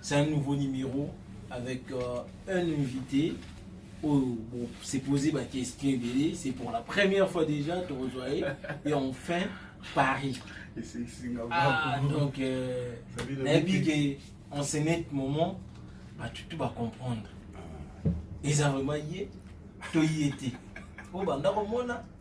C'est un nouveau numéro avec euh, un invité oyo bon, c'est posé ma question ebele c'est pour la première fois déjà tokozwa ye et enfin paris ah, donc euh, nayebi ke en ce net moment bato tu bacomprendre eza vraiment ye to ye te oyo banda komona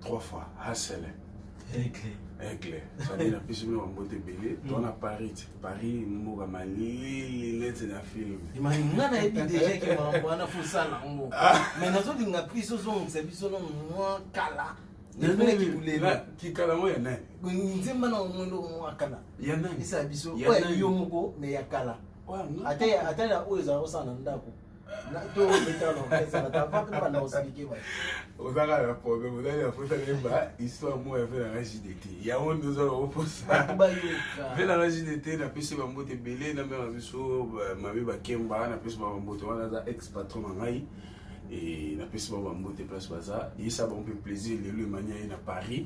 trois fois hasele aigle aigle sadi na pesi bino bambote ebele mm. to na paris paris mboka malili neti na film nga nayebi deja ke makambo wana fosala yango ah. mai nazolinga pris ozongisa biso no mwa kala kikala ngo ya nani nzemba na omwendo mwa kala ya nani esa biso yo moko me ya kala ata oyo ezala kosala na ndako ozaka na problème ozali na posa nayemba histoire moko ya ve nanga jdt yango nde ozala okoposa ve nanga jdt napesi bambote ebele na mema biso mabe bakemba napesi bambote wana aza ex patron na ngai napesi bango bambote place baza yesa bango mpe plaisir lelo emania ye na paris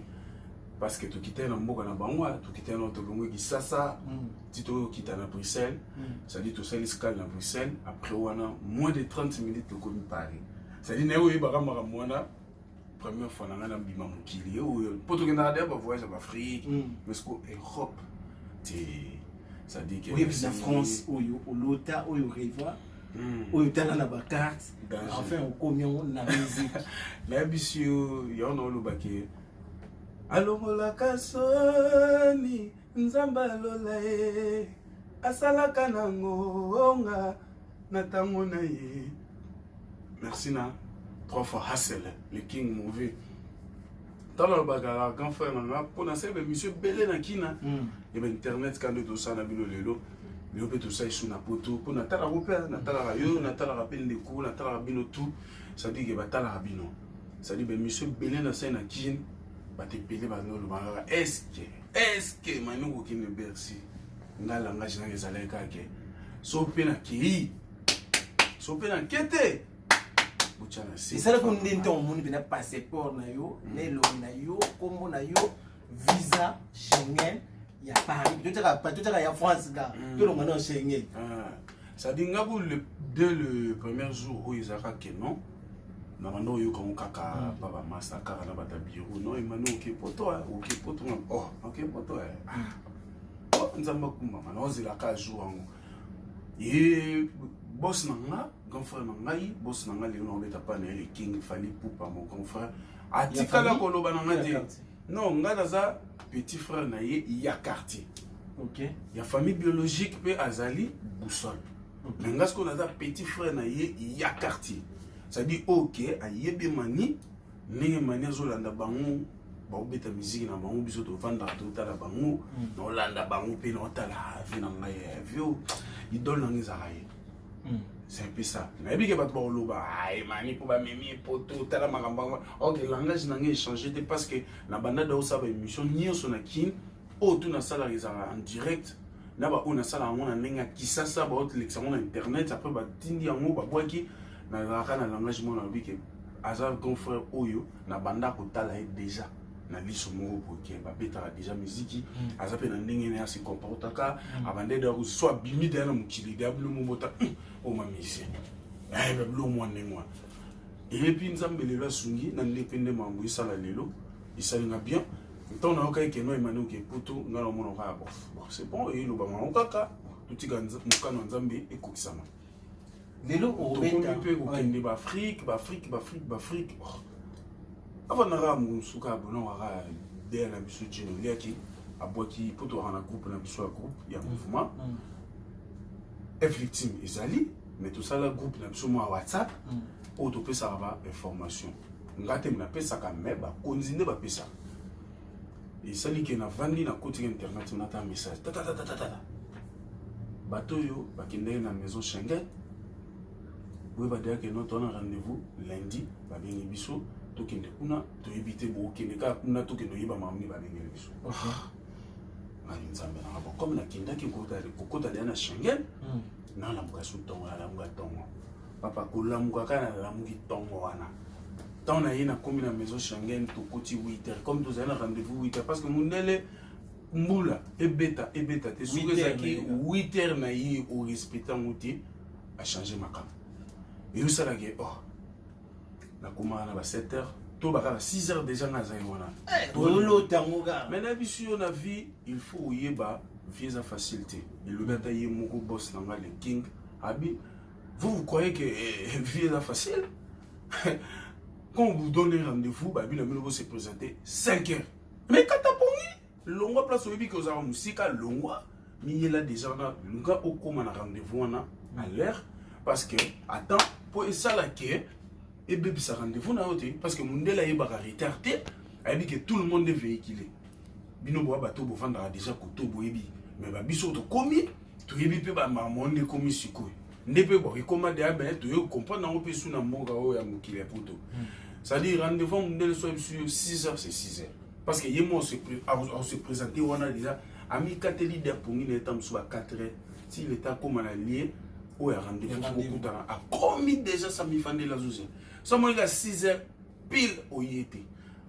parce que tokitani na mboka na bango wana tokitani na tolongwe kisasa mm. ti tokita na bruxelles mm. cestadi tosali scale na bruxelles après wana moins de 30 minutes tokomi paris cestadi naye oyebaka makambo wana première fois na ngai na bima mokili oyo mpo tokendaka deya bavoyage ya baafrike mm. mais siko europe te cestadi na france oyo olota oyo reva Hmm. oyo tala na bacarte enfin okomi yango na musique nayebisi yo yango naolobaki alongolaka soni nzambe alola ye asalaka na ngonga na ntango na ye merci na trois fois hassel le king movie ntango alobaka kaka grand frère na nga mpo nasala bamission ebele na kina hmm. eba internet ka nde tosala na bino lelo lelo mpe tosala esu na poto mpo natalaka mpe natalaka yo natalaka mpe ndeko natalaka bino tout sadike batalaka bino sadi bemission ebele na sai na kine bato ebele bandoloba kaka eske eske mami kokende bercy nga langage nanga ezalaki kake so mpe na kei so mpe na ke te botya na se esalaki nde ntango omoni mpena passeport na yo na elongi na yo nkombo na yo visa Schengen ya Paris tout ça tout ça ya France ga hmm. tout le monde Schengen ah. ça dit nga le dès le premier jour où ils arrêtent que non na banda oyoka ngo kaka hmm. pa bamasa kaka na bata biro no emani oke poto oke poto nga o oke poto o hmm. oh, oh, nzambe akumbama naozela ka jour yango ye bos na nga grand frère na ngai bos na ngai lelo naobeta pa na ye le king fali pupa mon grand frère atikala koloba na nga te Non, nga naza petit frère na ye ya quartier. Okay. Ya famille biologique pe azali boussole. Okay. Mais nga siko naza petit frère na ye ya quartier. C'est-à-dire OK, ayebi mani ndenge mani azolanda bango baobeta miziki na bango biso tofandaka totala bango mm. naolanda bango mpe naotala vie na ngai ya vio idole na ngai ezalaka ye Hmm. c'est un peu ça nayebi ke bato bakoloba emani mpo bamemi poto tala makambo yango ok langage na ngai echange te parce que na banda daosala baémission nyonso na kin oyo tu nasalaka ezalaka en direct na baoyo nasala yango na ndenge ya kisasa baotelekisa yango na internet après batindi yango babwaki nazalaka na langage mwana nalobi ke aza grand frère oyo na banda kotala ye déjà na liso moko boke babetaka deja miziki mm. aza mpe na ndenge ne ase comportaka mm. abande da so abimi deya na mokili deya bilo mobota mm, oma musicien ayeba eh, bilo mwa ndenge wana eyebi nzambe lelo asungi na nde mpe nde mambo esala lelo esali na bien ntango nayokaki keno emani oke poto ngai namona kaka bof c'est bon eloba mango kaka totika mokano ya nzambe ekokisama lelo obeta mpe kokende baafrike baafrike baafrike baafrike avandaka mosuka abonawaka deya na biso jino liaki abwaki mpo towaka na groupe na biso ya groupe ya mouvement mm. mm. victime ezali mais tosala groupe na biso mwa whatsapp mm. oyo topesaka ba information nga te napesaka me bakonzi nde bapesaka esali ke navandi nakoti na internet nata message tatatatatata bato oyo bakendaki na maison schengen boye badeyake noto wana rendez-vous lundi babengi biso tokende kuna toyebi te bokende kaka kuna tokende oyeba makambo nini babengeli biso ah. ngai nzambe nanga bo comme nakendaki kokota deya na schengen hmm. nalamuka su ntongo nalamuka ntongo papa kolamuka kaka nalamuki ntongo wana temps na ye nakomi na maison schengen tokoti 8h comme tozali na rendez-vous 8h parce que mondele mbula ebeta ebeta te soki ezalaki 8h na ye orespecte yango te achange makambo eyosalaki oh nakomaka na ba 7h to baka na 6h déjà nga azali wana eh, tolotangoka mai na biso yo na vie il faut oyeba vie eza facile te elobi ata ye moko boss na nga le king abi vous vous croyez que eh, vie eza facile quand vous donnez rendez-vous babi na bino bose présenter 5 heures mais kata pongi longwa place oyebi ke ozalaka mosika longwa miyela déjà wana luka okóma na rendez-vous wana à l'heure parce que attends mpo esala ke ebebisa rendez-vous na yo te parce que mondele ayebaka retard te ayebi ke tout le monde est véhiculé bino boya bato bovandaka déjà koto boyebi mais babiso tokomi toyebi mpe bamamone ekomi sikoyo nde mpe bon ekoma deya me toyei kocomprendre yango mpe su na mboka oyo ya mokili ya poto hmm. c'est-à-dire rendez-vous mondele soki biso 6 heures c'est 6 heures parce que ye mo ose présente wana deja amikateli de apongi na ye ntango mosusu ba 4 heures ti leta akóma na lie oyo ya rendez-vous kokutana akomi deja samifandeli azoze somoyika 6 heures pile oye te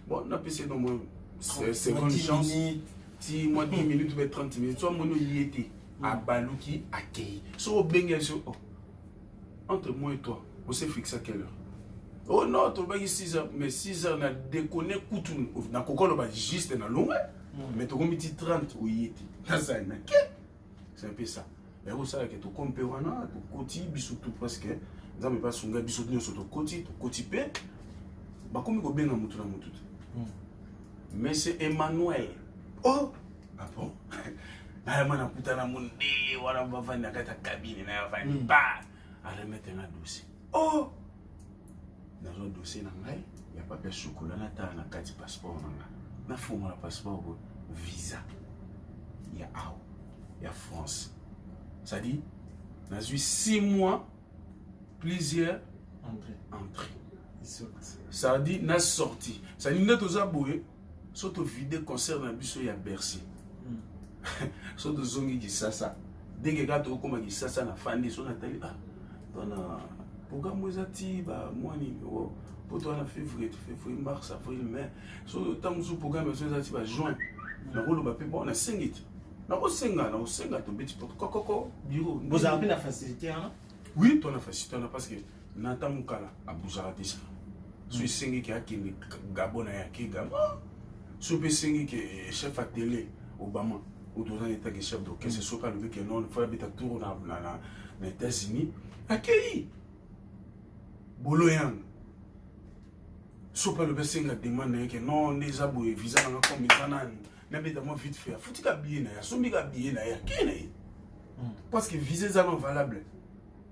bon napesi no mwa seconde chance ti mwa 10 minutes mpe 30 minutes so amoni oye te hmm. abaluki akei so obenge ye so oh, entre moi et toi on s'est fixé à quelle heure oh non tolobaki 6 heures mais 6 heures na déconne kutu nakoki oloba juste na longue hmm. mais tokomi ti 30 oye te nazali na ke c'est un peu ça yango osala ke tokomi mpe wana tokoti biso tout parce que nzambe mpe asunga biso nyonso tokoti tokoti mpe bakomi kobenga motu na motu te hmm. mais c'est emmanuel oh ah bon nayama nakutana mondele wana bavandi na kati ya kabine na ya vandi ba aremete nga dosi oh nazwa dossier na ngai ya papier ya chocolat natala na kati passeport na ngai nafungola passeport oyo visa ya awa ya france cestadire nazwi 6 mois plusieurs entrée cestadire na sorti cestadire nde toza boye so to vide concert na biso ya bercy hmm. so tozongi kisasa denge kaka tokokoma kisasa na fandi so natali ah wana programme oyo eza ti bamwa nini o poto wana février février mars avril mai so ntango mosusu programme ezo eza ti ba juin nakoloba mpe bon nasengi ti nakosenga nakosenga tobeti poto kokoko biro bozala mpe na facilité wana oui tona facilité wana parce que na ata mukala abuzaka te sa so esengi ke akende gabo na ye ake gabo so mpe esengi ke eh, chef atele obama oto oza neta ke chef d'orchestre soki alobi ke non fo abeta tour na, na, na, na états-unis akei bolo yango so mpe alobi asenga demande na ye ke non nde eza boye visa nanga comme eza nani nabeta mwa vite fait afuti ka biye na ye asombi ka biye na ye akei na ye parce que visa eza non valable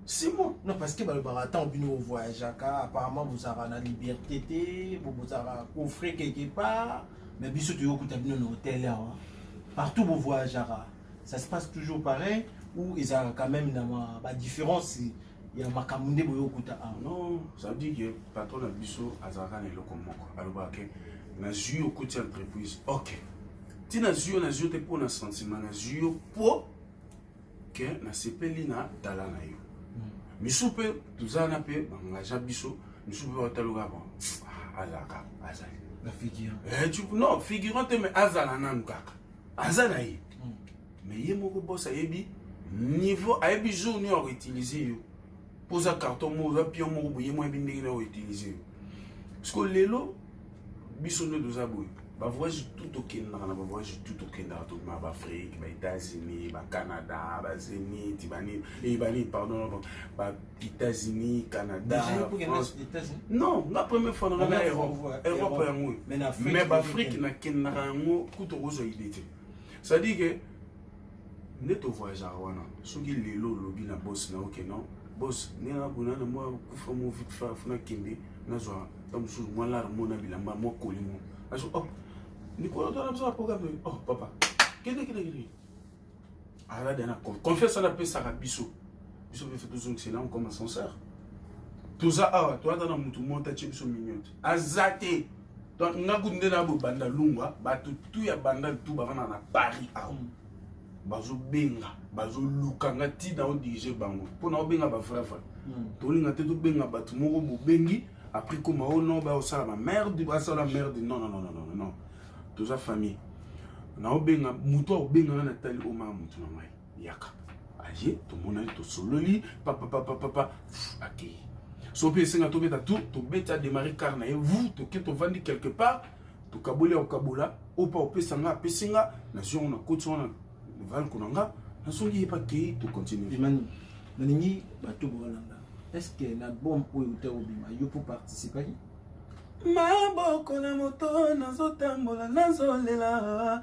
Simon, non parce que balobaka ntango bino ovoyageaka apparemment bozalaka na liberté te bozalaka coffre quelque part mais biso toyokuta bino na hotel awa partout bovoyageaka ça se passe toujours pareil ou ezalaka quand même na badifférence ya makambo nde boyokuta awa non ça veut dire que patron na biso azalaka na eloko moko alobaka ke nazwi yo koti entreprise ok ntina nazwi yo nazwi yo te mpo na sentiment nazwi yo mpo ke nasepeli na tala na yo misu mpe toza na mpe bangaja biso misu mpe bataloka ba ah, azalaka azali eh, non figurant te mais azala nanu kaka aza na ye mais ye moko bos ayebi niveau ayebi jour nio akoutilize yo poza carton moko oza pion moko boye mwa bi ndenge na outilize yo siko lelo biso nde toza boye bavoyage tout tokendaka na bavoyage tout tokendaka tokima baafrike baétats-unis bacanada bazénith banini eh, banini pardon baétats-unis canada non nga première fois nanga na europe europe yango mais baafrike nakendaka yango kutu okozwa idée te c'est-à-dire que nde to voyageaka wana soki lelo olobi na bosi na oke non bosi nde nakona na mwa kufa mo vite fa funa kende nazwa ntango mosusu mwa lare mo na bilamba mwa koli mo aso oh likolo twana biso na programme oh papa kende kende kende alada na confiance wana apesaka biso biso mpe fe tozongisela nkoma sanseur toza awa toyata na motu mota tie biso miniote aza te donc nga kutu nde na boye banda lungwa bato tu ya banda tu bavanda na paris awa mm. bazobenga bazoluka nga ti na odirige bango mpo na obenga bavrai vrai mm. tolinga te tobenga bato moko bobengi après koma o oh non baosala bamerde basala merde non non non non non toza famille na obenga moto akobenga nga natali omaya moto na ngai yaka aye tomonani tosololi papapapapapa akei so mpe esenga tobeta tu tobeti ademare kar na ye vu toke tovandi quelque part tokaboli ya kokabola oyo mpa opesa nga apesi nga nazwi yango na koti wana valko na nga nazongi ye mpe akei tocontinue imani nalingi bato bokolanda est ce que na album oyo uta obima yo mpo participaki maboko na moto nazotambola nazolela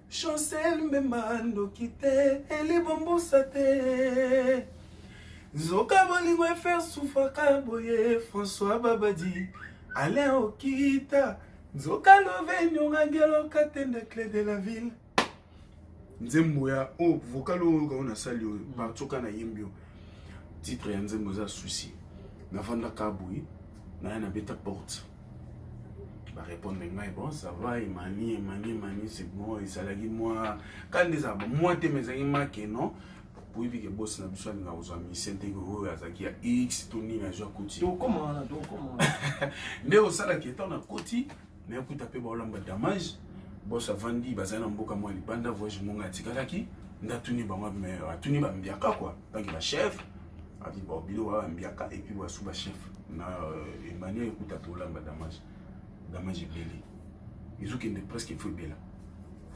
Chancel mbemba ndoki te elibombosa te nzoka bolingo efer sufaka boye françois babadi alain okita nzoka love nyongangelo katende cle de la ville nzembo ya o oh, vocal oyo oyoka oyo nasali oyo mm. barcoka nayembi oyo titre ya nzembo eza souci navandaka boye naya nabeta porte ba répondre ngai bon ça va emani emani emani c'est bon ezalaki mwa kani nde ezalaka mwa te mais ezalaki make non oyebi ke bosi na biso alinga kozwa mise ndenge oyo azalaki ya x to nini azwa koti nde osalaki etan na koti me akuta mpe baolamba damage bos avandi bazali na mboka mwa libanda voyage monga atikalaki nde atuni bango atuni bambiaka kua baki ba chef abi ba bilo wa mbiaka et puis wa suba chef na euh, Emmanuel kuta to lamba damage damage belé izu kende presque il faut bela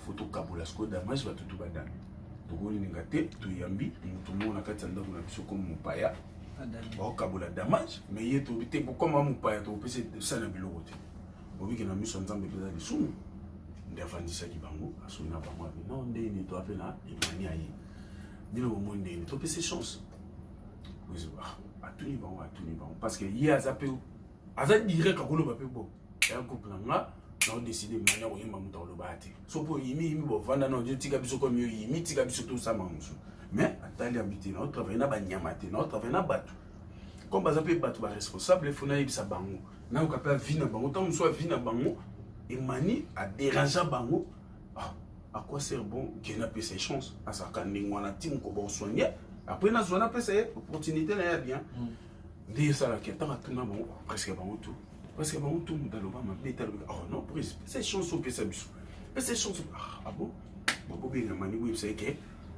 photo kabola sko damage ba tutu badami tokoli ninga te toyambi mutu mo na kati ndako na biso comme mopaya ba kabola damage mais ye to bité ko comme mopaya to pese sana biloko te obiki na miso nzambe pesa lisumu nde afandisaki bango asuni na bango abi no nde nito ape na emani aye bino bomoi ndeni topesi chance ah, atuni bango atuni bango parce que ye aza mpe aza direct akoloba mpe bo ya groupe na nga naodeside mani akoyemba moto akoloba te so mpo oyimi yimi bovanda na odio tika biso komi oyimi tika biso tosama mosusu mais atali yabi te naotravaille na banyama te naotravaille na bato comme baza mpe bato baresponsable efo nayebisa bango nayoka mpe avi na bango ntango mosusu avi na bango emani aderangea bango ah à quoi sert bon que na pesa chance asaka ndenge wana tim ko bon soigner après na zona pesa ye opportunité na ya bien hmm. nde esala ke tanga tuna bango presque bango tout presque bango tout muda loba mabe ta loba oh non prise pesa chance pesa biso pesa chance ah, ah bon babo benga mani oui c'est que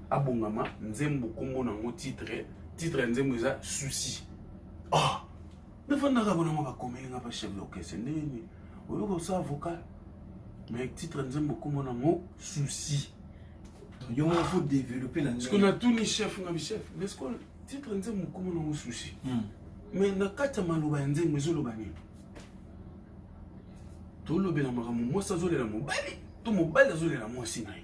abongama nzembo kombo nango titre titre ya nzembo eza souci ah nafandaka kuna ngo bakomeli nga pa chef d'orchestre ndenge nini oyoka osa avocat mais titre nzembo kombo nango souci yango faut développer na ndenge natuni chef nga bi chef mais ko titre nzembo kombo nango souci hmm. mais na kati ya maloba ya nzembo ezoloba nini tolobela makambo mwasi azolela mobali to mobali azolela mwasi na ye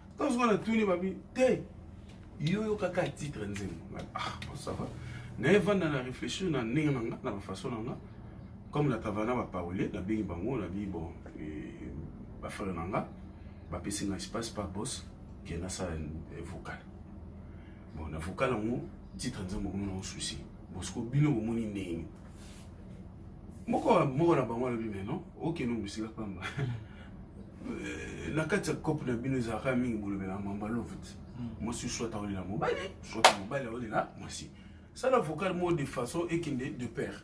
Tango sikoyo natuni babi te yo yokaka titre nzembo ah bon ça va naye vanda na réfléchir na ndenge na nga na bafaçon na nga comme na travaille na baparole nabengi bango nabi bon eh, bafrere na nga bapesi nga espace pa boss ke nasala eh, vocal bon na vocal yango titre nzembo komona ngo souci bosiko bino bomoni ndenge moko moko na bango alobi me non okende mosika pamba euh, na kati ya cope na bino ezalaka mingi bolobela mamba love te hmm. mwasi soit aolela mobali soit mobali aolela mwasi sala vocal moko de façon ekende de père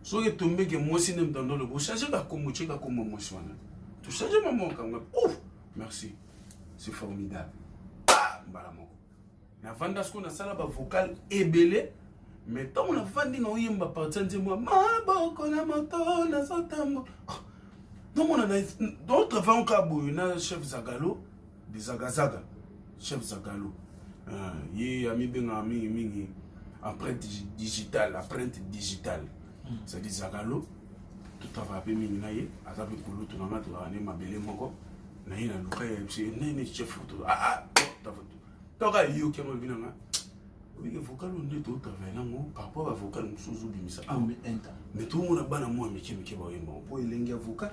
soki etombeke mwasi nde mtando lobo ochange kakombo tie kakombo mwasi wana tochange mama okanga ouf merci c'est formidable ah, mbala moko navanda sikoyo nasala bavocal ebele me ntango navandi naoyemba parti ya nzembo ya maboko na moto nazotambo ah, nomona d'autre vant kaka boye na chef zagalo de zagazaga chef zagalo ah, ye amibengaka mingi mingi empreinte digitale empreinte digitale hmm. cest dire zagalo totravaya mpe mingi na ye aza mpe kulutu na ngai tozalaka nde mabele moko na ye na luka ya biso enene chef foto ah, ah, toka yoki yango ebi nanga obike vocal oyo nde totravai nango parapor ba vocal mosusu ozobimisa ah, me tomona bana mwa mike mike baoyemba mpo elengi ya vocal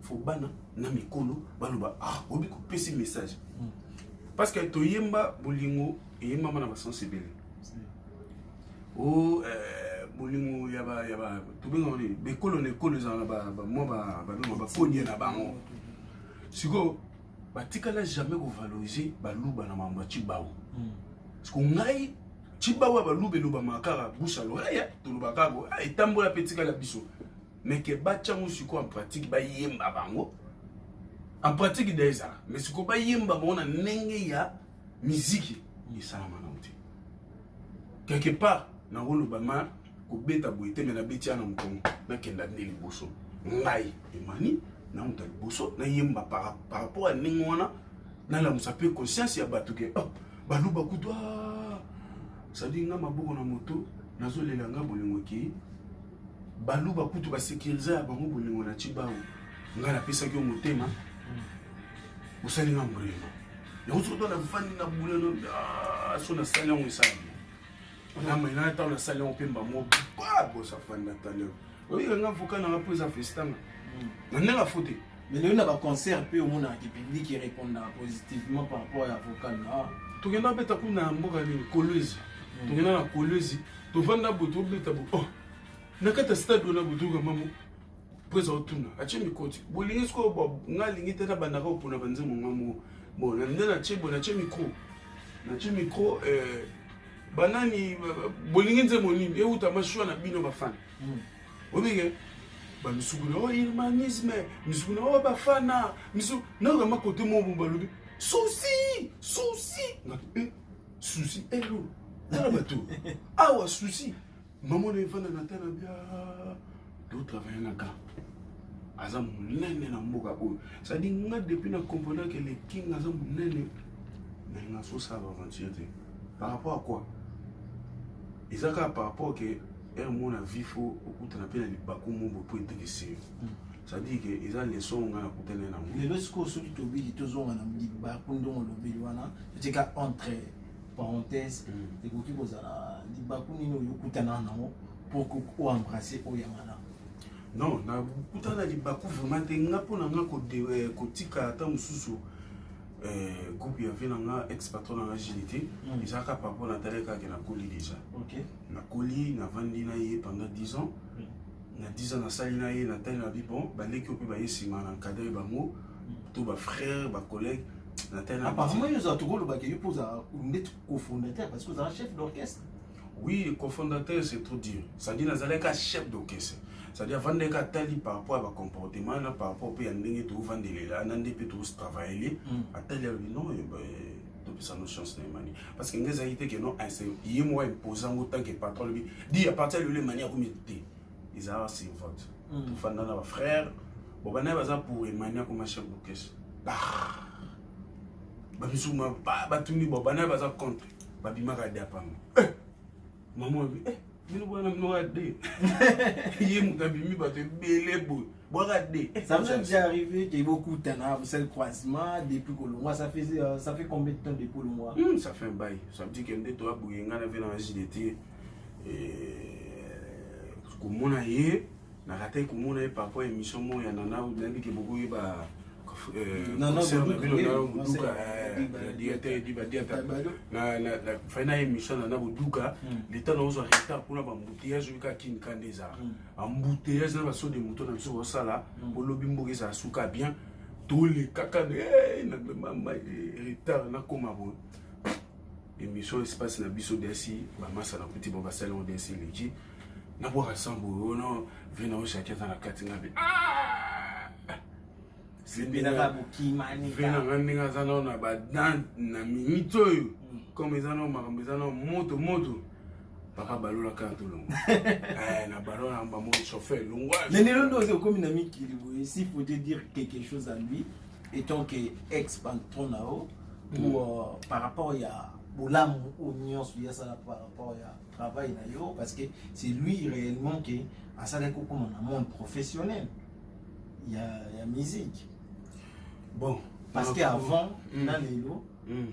fo bana na mikolo baloba ah obi kopesi message hmm. parce que toyemba bolingo eye mama na basense ebele o oh, eh, bolingo ya ba ya ba tobengaka nini bekolo na ekolo ezala na mwa babengaka bakonye na bango sikoyo batikala jamais kovalorize baluba na mambo ya cibawu hmm. siko ngai cibawu ya baluba elobamaka kaka busa loreya tolobaka kako ah, etambola mpe etikala biso meke batya ngo sikoyo en pratique bayemba bango en pratique da ezala mais sikoyo bayemba bango na ndenge ya miziki oyo esalama nango te quelque part nakoloba ma kobeta boye te me nabeti yana mokongo nakenda nde liboso ngai emani na moto ya liboso nayemba par rapport ya ndenge wana nalamusa mpe conscience ya bato ke oh, baluba kutu ah, sadi nga maboko na moto nazolela nga bolingo ekei baluba kutu basekiriza ya bango bolingo na cibango ngai napesaki yo motema osali nga mbrema yango soki to nafandi na bulelo ah, so nasali yango esali namena ntango nasali yango mpe mbamo babosa fandi na taleo oyika nga voka nanga mpo eza festanga hmm. na ndenge afo te mais lelo na baconcert mpe omonaka ki public erépondaka positivement par rapport ya vocal na ah. tokenda beta kuna na mboka nini kolwezi hmm. tokenda na kolwezi mm. tovanda boye tobeta bo oh, na kati ya stade wana botoyoka mamo mpo eza otuna atye mikoti bolingi sikoyo nga alingi te nabandaka opona banzembo nga moko bon nde natye bo natye mikro natye mikro eh, banani bolingi nzembo nini euta mashua na bino bafana hmm. obenge bamisuku na o oh, irmanisme misuku na o oh, bafana misuku nakokama kote moko balobi susi susi eh, souci elo tala bato awa souci mama na efanda na tala bia totravaille na ka aza monene na mboka oyo sadi nga depuis na comprenake le king aza monene mais nasosala aventure te par rapport à quoi eza kaka par rapport ke heure mona vifo okutana mpe na libaku moko mpo etekisi yo cetadire ke eza leson nga nakutani na yango lelo sikoyo soki tobili tozonga na libaku ndongo lobeli wana totika entre parenthèse mm. ekoki kozala libaku nini oyo okutana na yango pour oembrasse oyo ya malamu non nakutana na libaku vraiment te nga mpo na nga eh, kotika ata mosusu eh, groupe ya vie na nga ex patron na nga jili te mm. eza kaka mpo natali kaka nakoli déjà nakoli navandi na ye pendant 10 ans mm. na 10 ans nasali na ye natali na bi bon baleki oyo mpe baye nsima na nkadre bango to bafrère bacollègue natali na apparemment yo ozala tokolobaka yo mpo ozala ndeti cofondateur parce que ozala chef d'orchestre oui le cofondateur c'est trop dur c'est-à-dire nazalaki ka chef d'orchestre c'est-à-dire avandaki atali par rapport ya bacomportement na par rapport mpe ya ndenge toofandelela na nde mpe toositravayele atali alobi non topesa no chance na emani parce que ngai ezalaki te ke no inse ye moko impose yango tant que patron alobi di à partir ya lelo emani akomi te ezalaka sur vote hmm. tofanda na bafrère bon banaye baza pour emani akoma chef d'orchestre bamisusu batuni bon banaye baza contre babimaka diapanga eh! mama eh! bino boya na bino kaka de ye moto abimi bato ebele boye bwaka de ça vous est déjà arrivé que bokutana vous sel croisement depuis kolongwa ça fait euh, ça fait combien de temps depuis kolongwa hmm, ça fait un bail ça veut dire que nde toya boye ngai na ve na jilete komona ye Nakatai komona ye par rapport emission moko ya Nana ou nayebi ke bokoyeba euh, Nana concert na bino Boduka, na oui, Boduka concert, euh, Diba, na Diata Diata. Diba Diata Tabado. na na na fai na emission na na Boduka Mm. leta na ozo retard kuna ba embouteillage oyo kaka kin kande ezala Mm. embouteillage na baso de moto na biso kosala Mm. bolobi mboka ezala suka bien tolekaka na eh, na mema ma- eh, retard nakoma boye emission espace na biso desi bamasa na kuti bo basali yango desi eleki nabwaka sambo oyo no vina oyo shaki aza na kati nga be vina nga ndenge aza nao na badan na minute oyo comme eza nao makambo eza nao moto moto papa balola kaka tolongo eh, na balo na mbamo chauffeur longwa mais lelo nde ozi okomi na mikili boye si faut te dire quelque chose à lui étant que ex patron na yo pour mm. euh, par rapport ya bolamu oyo nyonso yasala par rapport ya travail na yo parce que c'est lui réellement que asalaki kokoma na monde professionnel ya, ya musique bon parce que avant mm. na lelo mm.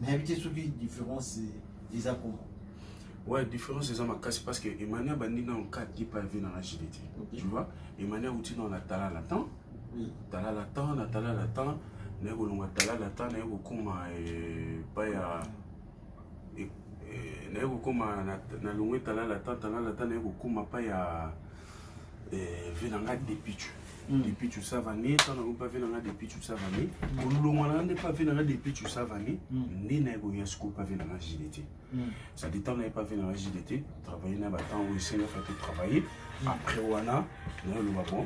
nayebi te soki différence eza koma ouais différence eza makasi parce que emmanuel abandi nano 4 kipa evi na rajide te okay. tu vois emmanuel auti nano na talala temps oui. talala temps na talala temps naye kolongwa talala temps naye kokoma epai eh, ya naye kokoma na longwe talala ta talala ta naye kokoma pa ya eh, vie na nga depichu hmm. depichu savane ta nango pa vie na nga depichu savane kolongwa na nga nde pa vie na nga depichu savane hmm. nde naye koya sikoyo pa vie na nga gdt sadi ntango naye pa vie na nga gdt travaille na batango oyo esengaka te travaille hmm. après wana nayoloba bon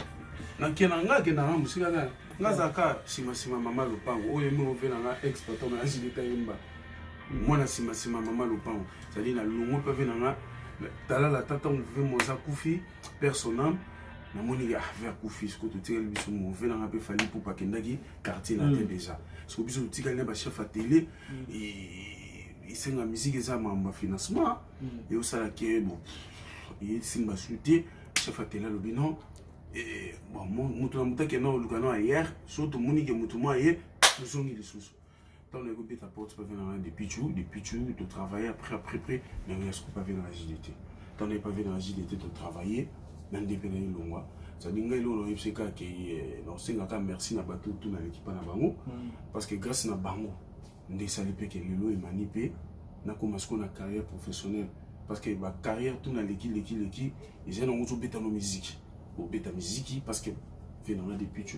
nakenda nga akenda nga mosika nga azalaka nsima nsima mama lopango oyo emi ovela nga exploitant na gdt ayemba mwana nsima nsima mama lopango ezali na longo mpe ve na nga talala ata ntango ve moza kufi personam namoni ah ve akufi siko totikali biso mo ve na nga mpe fali pupa akendaki quartier na te mm. déjà siko biso totikali na bachef ya tele mm. esenga miziki eza mambo ya financement mm. eosala ke bo esimba su te chef ya tele alobi non moto na moto akenda koluka no ayer so tomoni ke moto mwa ye tozongi lisusu Tant le groupe ta porte pas venir dans des pichou, des pichou, de travailler après après après, mais rien ce pas venir dans la JDT. Tant le pas venir dans la JDT de travailler, dans des pays de l'Ongwa. Ça dit ngai lolo yebseka ke eh, na osenga ka merci na bato tout na l'équipe na bango mm. parce que grâce na bango nde sali pe ke lelo emani pe na koma siko na carrière professionnelle parce que ba carrière tout na leki leki leki ezali nango tobeta no miziki obeta miziki parce que venanga depuis tu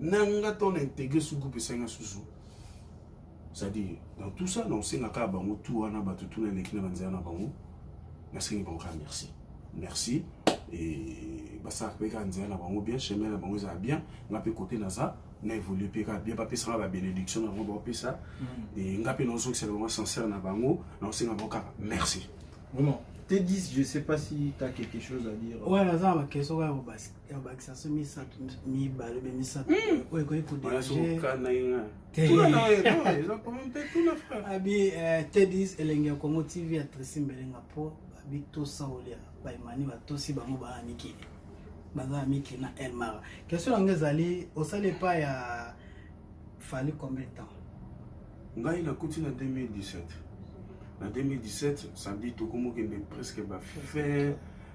na nga to na integre su groupe esali nga susu c'est-à-dire dans tout ça na osenga kaka bango tout wana bato tuna eleki na banzela na bango nasengi bango kaka merci merci et basalaka mpe kaka nzela na bango bien chemin na bango ezala bien nga mpe kote naza na évolue mpe kaka bien bapesaka babénédiction na bango baopesa mm. e nga mpe naozongisaka bango sincère na bango naosenga bango kaka merci vraiment te 10 je sais pas si tu as quelque chose à dire ouais naza na bakeso kaka bobasi ya bakisa so misato mibale obe misato hmm. oyo ekoki kodeabi eh, tedis elengi ya congo tv ya tresi mbelenga mpo babitosa olia baimani batosi bango baa mikili baza ya mikili na elmara question yango ezali osali epai ya fali combien de temps ngai nakuti na 2017 na 2017 samedi tokomokende presque bafin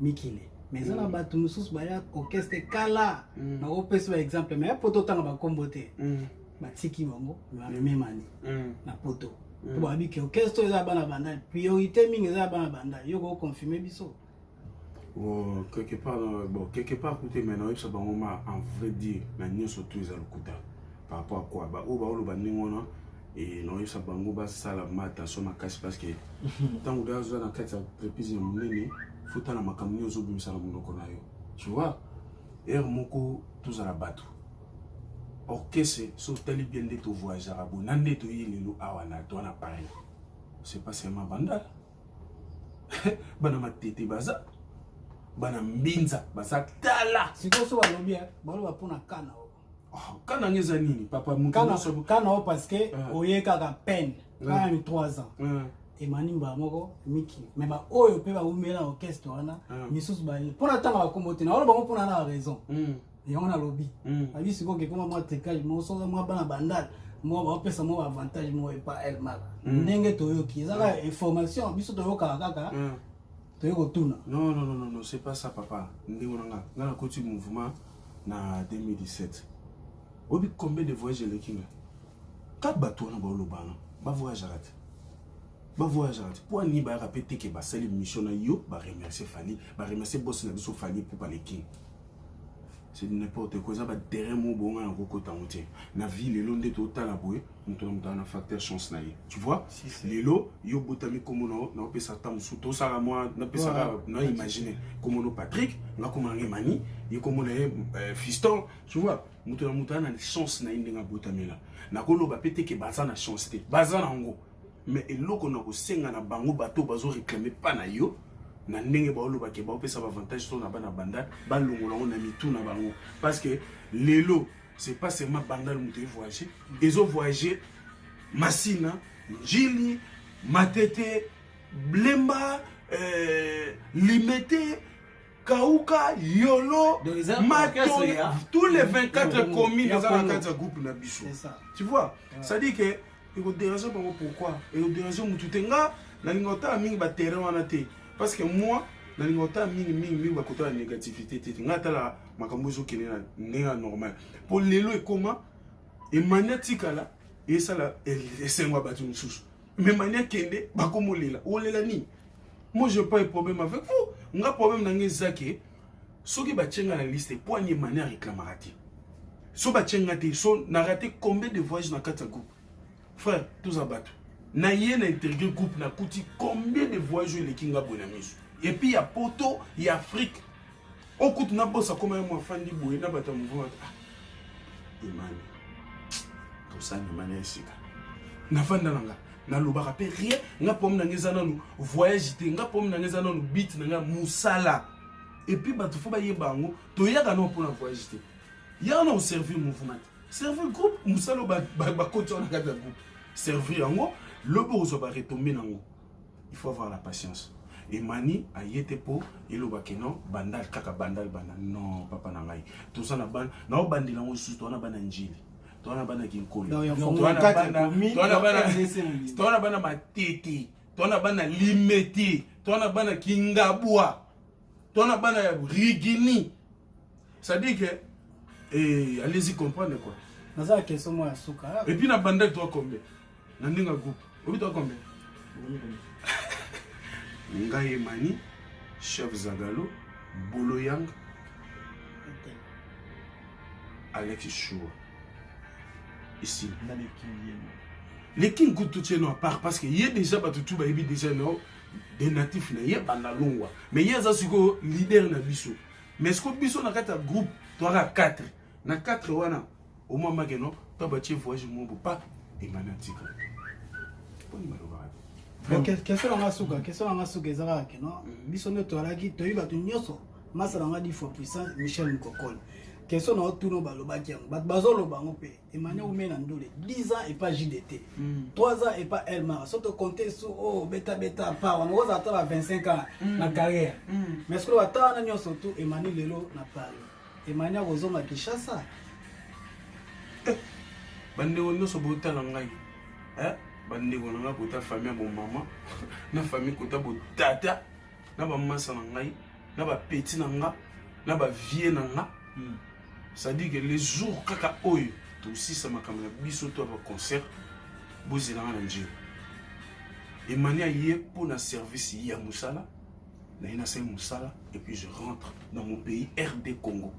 mikili me eza na mm. bato mosusu baya orchestre kala mm. bakopesa ba exemple me poto otanga bakombo te mm. batiki bango bamememani na poto po bayebi ke orchestre eza bana bandal priorité mingi eza bana bandal yo koconfirme biso oh, quelque part euh, bon quelque part kute me naoyebisa bango ma en vrai dire na nyonso tu eza lokuta par rapport à quoi baoyo baoloba ndenge wana e, naoyebisa bango basala ma attention makasi parce que ntango deja azoza na kati ya entreprise ya monene fotala makambo nini ozobimisa na monoko na yo tu vois heure moko tozala bato orchestre so otali bien nde tovoyageaka boye na nde toye lelo awa na toi na paris c'est pas seulement bandala bana matete baza bana mbinza baza tala sikoyo so balobi baloba mpo na kana oyo Ah, kana nge eza nini papa mukana o parce que ah. oye kaka peine kana ah. ni 3 ans emani mbala moko miki me baoyo mpe baumela orchestre wana misusu baye mpo na ntango bakombo te naola bango mpo na na raison hmm. yango nalobi hmm. abi sikoyo kekoma mwa tricage moko soki mwa bana bandal moko baopesa moko avantage moko epa elmaka hmm. ndenge toyoki eza kaka information biso toyokaka kaka toye kotuna non non non non c'est pas ça papa ndenge na nga nga nakoti mouvement na 2017 oyebi combien de voyage eleki nga ka bato wana baolobana bavoyageaka te bavoyageaka te mpo ani bayaka mpe teke basali mission na yo baremercie fali baremercie bosi na biso fali pupa le king c'est n'importe quoi eza baterrain mo bonga na kokota yango te na vie lelo nde totala boye moto moto na facteur chance na ye tu vois lelo yo obotami nkombo na yo naopesa ata mosusu tosala mwa napesaka na imagine nkombo no patrick nakoma nange mani ye nkombo na ye euh, fiston tu vois moto na moto ana na chance na ye ndenge abotamela nakoloba mpe teke baza na chance te baza na yango mais eloko na kosenga na bango bato bazo réclame mpa na yo na ndenge baolobake baopesa baavantage to na bana bandal balongola yango na mitu na bango parce que lelo c'est pas seulement bandal moto evoyage ezo voyage masina njili matete blemba euh, limete kauka yolo mato tous les 24 communes eza na kati ya groupe na biso tu vois c'est-à-dire que ekoderange bango pourquoi ekoderange motu te nga nalinga otala mingi baterrain wana te parce que moi nalinga otala mingi mingi mingi bakotala négativité te nga atala makambo ezokende na ndenge ya normal mpo lelo ekoma emani atikala esala esengo ya bato mosusu me mani akende bakomolela olela nini moi je pas problème avec vous nga problème na nga eza ke soki batye nga na liste mpo ani emani areklamaka te so batye nga te so na rate combien de voyage na kati ya groupe frère toza bato na ye na interview groupe nakuti combien de voyage oyo eleki nga boye na miso epuis ya poto ya afrique o kutu na bosa koma ya mwafandi boye na bato ya mouvement bato ah imani tosani imani ya esika nafanda na nga nalobaka mpe rien nga pomi na nga eza nanu voyage te nga pomi na nga eza nanu bit na nga mosala epuis bato fo bayeba yango toyaka nao mpo na voyage te yaka na oservir mouvement te servir groupe mosala bakoti wana kati ya groupe servir yango lobi okozwa baretombe na yango il faut avoir la patience emani aye te mpo eloba ke non bandal kaka bandal banda non papa na ngai toza na bana na obandela yango lisusu towana bana njili towana bana kinkoli towana bana matete towana bana limete towana bana kingabwa to na bana ya rigini c'est-à-dire que eh, allez-y comprendre quoi naza ya question moko ya suka ah. epuis na bandaki toa combien na ndenge ya groupe obi toa combien ngai emani chef zagalo bolo yang alex shua ici le king kutu tieno apart parce que ye déjà bato tu bayebi déjà no de natif na ye banda longwa mais ye aza sikoyo leader na biso mais sikoyo biso na kati ya groupe toaka 4 na 4 wana omwamake no to batie voyage moko pa emani atika mponi balobaka question na nga suka question na nga suka eza kaka keno mm-hmm. biso nde toalaki toyebi bato nyonso masala nga di fois puissant michel mokokoli question na otuna balobaki yango bato bazoloba yango mpe emane ume na ndule 10 ans epa jdt 3 mm. ans epa elmara soki tokonte su o oh, betabeta pa wana okozala ata ba 25 ans mm. na carrière mm. mais sikoyo ata wana nyonso tu emani lelo na paris emani akozonga kinshasa eh, bandeko nyonso botala ngai eh, bandeko na ngai kota famille ya bomama na famille kota botata na ba masa na ngai na ba petit na nga na ba vieux na nga mm. ça dit que les jours kaka oyo tosisa makambo na biso to ba concert bozela nga na njeu emani aye mpo na service ya mosala na ye nasali mosala et puis je rentre dans mon pays rd congo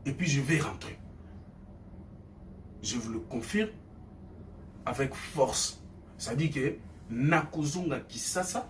et puis je vais rentrer je vous le confirme avec force ça dit que nakozonga kisasa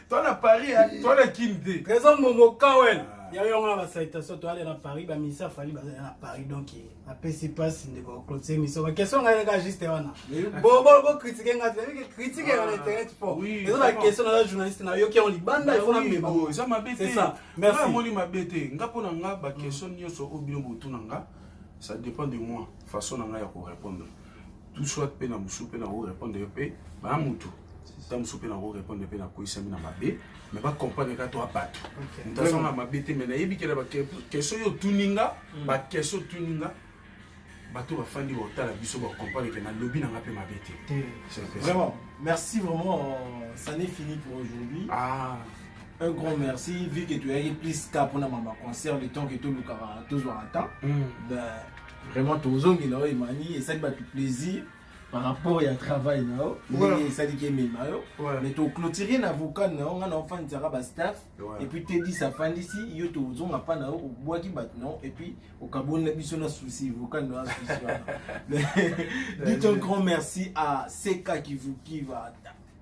toi na paris hein? toi na kin te trésor mbongo kawel ah. ya yo nga basalitation toale na paris bamisa fali bazali na paris donc apesi mpasi ndeko clotise miso baquestion ngai kaka juste wana bokritike ngai tebike kritike ya na internet po eza baquestion naza journaliste na yoki yango libanda ifo na mbeba eza mabe te merci amoni mabe te nga mpo na nga baquestion nyonso oyo bino botuna nga ça dépend de moi façon na ngai ya korépondre tout soit mpe na mosusu mpe na korepondre yo mpe bana motu ta mosusu mpe na korepondre mpe nakoyisami na mabe me bacomprendre kaka to abato moto aza na mabe te me nayebi kela bakestion yo otuni nga hmm. bakestion otuni nga bato bafandi baotala biso bacomprendre ke nalobi na nga mpe mabe te vraiment merci vraiment euh, ça n'est fini pour aujourd'hui ah. un grand merci vu que toyaki plus ka mpona mama concert le temps que tolukaka tozwaka temps hmm. ben, Vraiment tozongi na yo Emani esali bato plaisir par rapport ya travail na yo ndenge esaliki emema yo mais toclotire na vocal na yo ngai na ofandisaka bastaff epuis tedis afandisi yo tozonga mpa na yo obwaki bato na yo epuis okaboli na biso na souci vocal na yo asusi wana dites un grand merci à seka kivukiva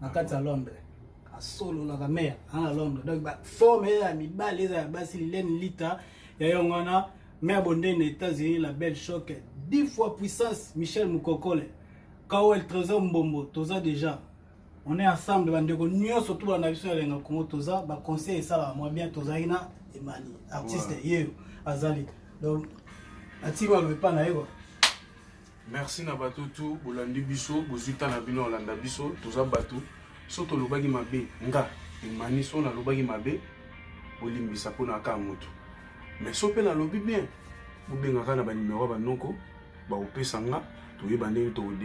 na kati ya londre asololaka mare ana londre donc baforme eza ya mibale eza ya basi lilene lita ya yango wana mare bondeni états-unis la belle choc 10 fois puissance michel mokokole kawel trésor mbombo toza déjà on est ensemble bandeko nyonso tubala na biso ya lenga kongo toza baconseil esalaka mwa bien tozalaki na emani artiste yeyo azali donc atikaloba epa na ye kua Merci na bato tout bolandi biso bozwi ntan na bino olanda biso toza bato so tolobaki mabe nga emani so nalobaki mabe bolimbisa mpo na kaa moto mais so mpe nalobi bien bobengaka na banimero ya banoko bakopesa nga toyeba ndenge tokode